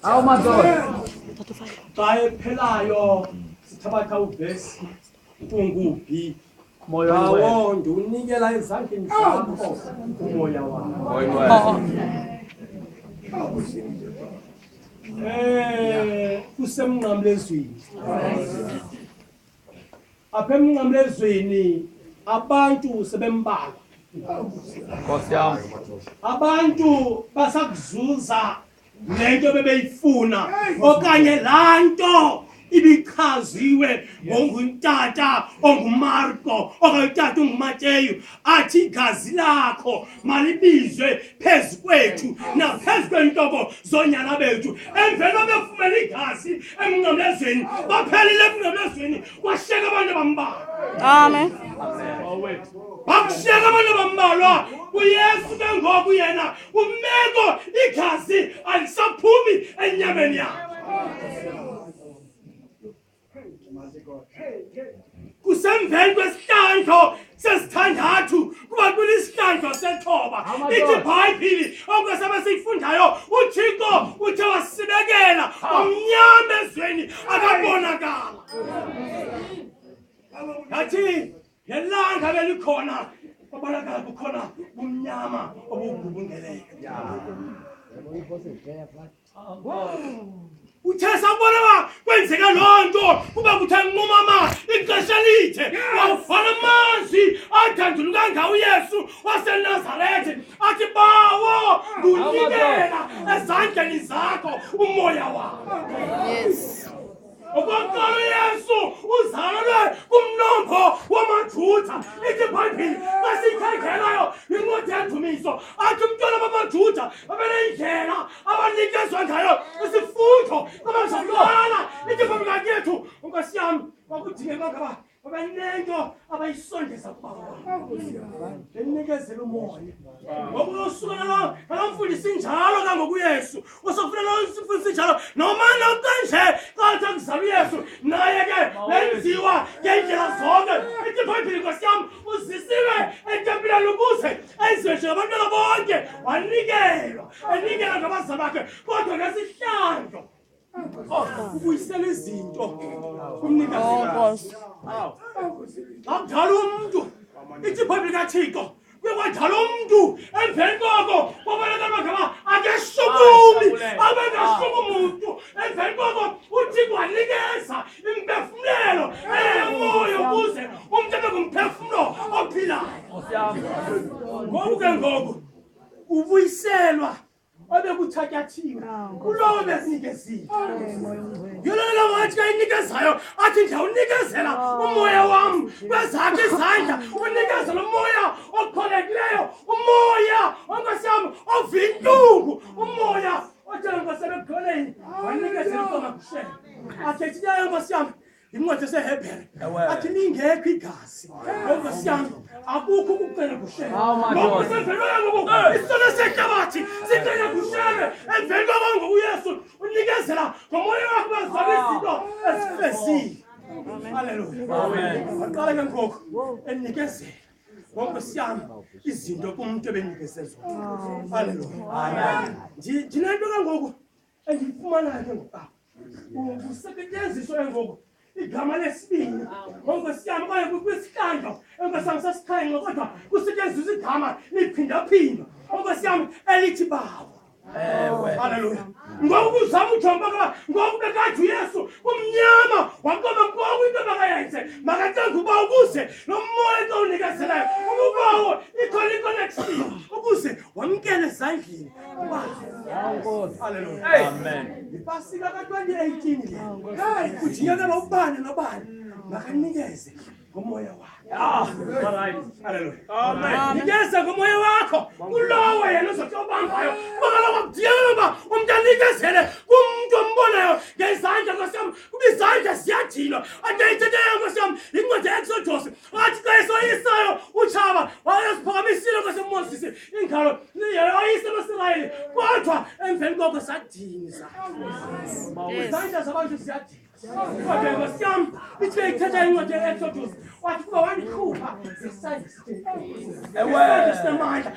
How much? Tae phelayo sithabatha uvesi kunguphi Moyo wangu. awo ndiwunikela ezandleni zakho umoya wakho Eh, kusemnqamlezweni apha emnqamlezweni abantu sebembalwa nkosi yam abantu basakuzuza le nto bebeyifuna okanye laa nto ibichaziwe ngoNguntata onguMarko okanye utata onguMateyu athi igazi lakho malibizwe phezu kwethu naphezu kweentobo zoonyana bethu emveni obefumela igazi emnqamlezweni baphelile emnqamlezweni kwashiyeka abantu abambalwa amen bakushiyeka abantu abambalwa kuyesu ke ngoku yena umeko igazi alisaphumi enyameni yakhe kusemveni kwesihlandlo sesithandathu kuba kulisihlandlo sethoba ithi ibhayibhili okwesaba siyifundayo uthixo uthe wasibekela omnyama ezweni akabonakala ngathi nelanga belikhona kwabonakala kukhona umnyama obugubungeleyo Yeah. uthe sabona ba kwenzeka loo nto kuba kuthe nqumama ixesha lithe wawufana amanzi adandulu kangawo uyesu wasenazarethe athi bawo ngunikela ezandleni zakho umoya wakho yes. Okokuqala uYesu uzalwe kumnombo wamaJuda. Ithi iBhayibhile xa siyikhangelayo yincwadi yendumiso athi umntwana bamaJuda babenendlela abanikezwa ngayo isifundo abazalwana. Ithi iBhayibhile yethu unkosiyami kwakudingeka ngaba babanento abayisondeza kubabenikezela umoya ngoba uyosuka nalo nalomfundisi njalo kangokuyesu usofuna lomfundisi njalo noma nokanje kathi akuzala uyesu naye ke lenziwa ngendlela zonke ithi bhayibhile nkosi yam uzisiwe etempileni ukuze ezishe abantwana bonke wanikelwa enikela ngabazali bakhe kodwa ngesihlandlo ubuyisela izinto kumnikazi xa mdala umntu ithi ibhayibhile kathixo bekwadala umntu emveni koko kwabaleka amagama akeshukumi abengashumi muntu emveni koko uthi kwanikeza imphefumlelo eyemoya ukuze umntu abe ngumphefumlo ophilayo ngoku ke ngoku ubuyiselwa obekuthatyathiwe kulowo bezinikeziwe yolona wathi kayinikezayo athi ndiyawunikezela umoya wam kwezakhe izandla unikezela umoya okholekileyo umoya onkosi yam ovintuku umoya otshela nkosi ebekholeni wanikezela ukomakushela athethi leyo nkosi yam incwadi esehebhere athi lingekho igazi enkosi yami akukho ukucela kusheleisitolo sehlabathi sicela kushele emveni kwaba ngokuyesu unikezela ngomoya wakho bazala izinto ezifezile aleluyaaqala ke ngoku enikezela wonke siyami izinto kumuntu ebenikezezwa aleluya ndinento ke ngoku endiyifumana ke ngoku kusetyenziswa ke ngoku igama lesibini ngokwesiyam okanye kwisihlandlo enkwesam sesikhenxe kodwa kusetyenziswa igama liphindaphinda okwesiyam elithi bawo halleluya ngoku kuzama ujonga uba ngoku bekade uyesu kumnyama waqoba ngoku into makayenze makacenga uba ukuze lo moya xa unikezelayo ukubawo ikhona iconnection ukuze wamkele ezandleni yipasika ka-2018 kujiyekela ubani nobani makanikeze ngomoya wanikeze ngomoya wakho kulowo yena uzothi obambayo bakaloko kudiyekela uba umntu anikezele kumntu ombonayo ngezandla nkosiyam kuba izandla ziyadinwa ade ithethe nkosiyam yincwadi ya-exodus athi xa esoyisayo utshaba wayeziphakamisiile kwasemoses ingalo yoyisa abasirayeli kodwa emveni koko sadinisa izandla zabantu ziyadinisa kodwa nkosi yam ithi beyithetha incwadi ye-exodus wathi kuba wandikhupha ngesandla sinemandla